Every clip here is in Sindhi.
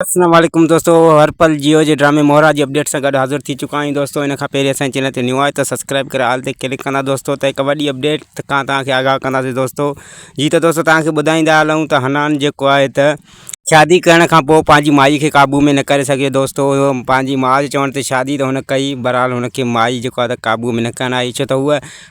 اسلام عليڪم دوستو هر پل جيو جي ڊرامي مورا جي اپڊيٽ سان گڏ حاضر ٿي چڪا آهيون دوستو ان کان پهرين اسان چينل تي نيو آهي ته سبسڪرائب ڪري آل تي ڪلڪ ڪندا دوستو ته هڪ وڏي اپڊيٽ کان تان کي آگاهه ڪنداسي دوستو جي ته دوستو تان کي ٻڌائيندا هلون ته حنان جيڪو آهي ته شادي ڪرڻ کان پوء پنهنجي مائي کي قابو ۾ نه ڪري سگهيو دوستو پنهنجي ماء جي چوڻ تي شادي ته هن ڪئي برحال هن کي مائي جيڪو آهي ته قابو ۾ نه ڪرڻ آئي ڇو ته هو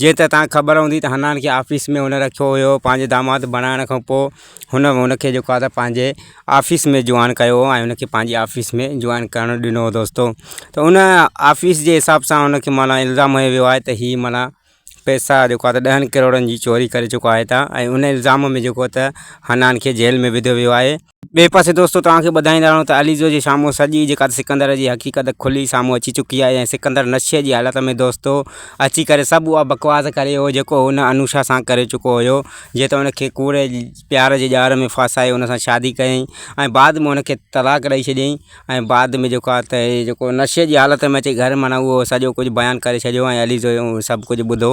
جيئن ته تان کي خبر هوندي ته حنان کي آفيس ۾ هن رکيو هيو پنهنجي داماد بڻائڻ کان پوء هن هن کي جيڪو آهي ته پنهنجي آفيس ۾ جوائن ڪيو هو ۽ هن کي پنهنجي آفيس ۾ جوائن ڪرڻ ڏنو هو دوستو ته هن آفيس جي حساب سان هن کي معنيٰ الزام هنيو ويو آهي ته هي معنيٰ پيسا جيڪو آهي ته ڏهن ڪروڙن جي چوري ڪري چڪو آهي ته ۽ هن الزام ۾ جيڪو ته حنان کي جيل ۾ وڌو ويو آهي ٻئي پاسي دوستو توهان کي ٻڌائيندا رهون ته عليزو جي سامهون سڄي جيڪا سڪندر جي حقيقت کلي سامهون اچي چڪي آهي ۽ سڪندر نشي جي حالت ۾ دوستو اچي ڪري سڀ اها بڪواس ڪري ويو جيڪو هن انوشا سان ڪري چڪو هيو جيئن ته ان کي ڪوڙي پيار جي ڄار ۾ ڦاسائي ان سان شادي ڪيائين ۽ بعد ۾ ان کي طلاق ڏئي ڇڏيائين ۽ بعد ۾ جيڪو آهي ته هي جيڪو نشي جي حالت ۾ اچي گهر معنيٰ اهو سڄو ڪجهه بيان ڪري ڇڏيو ۽ عليزو سڀ ڪجهه ٻڌو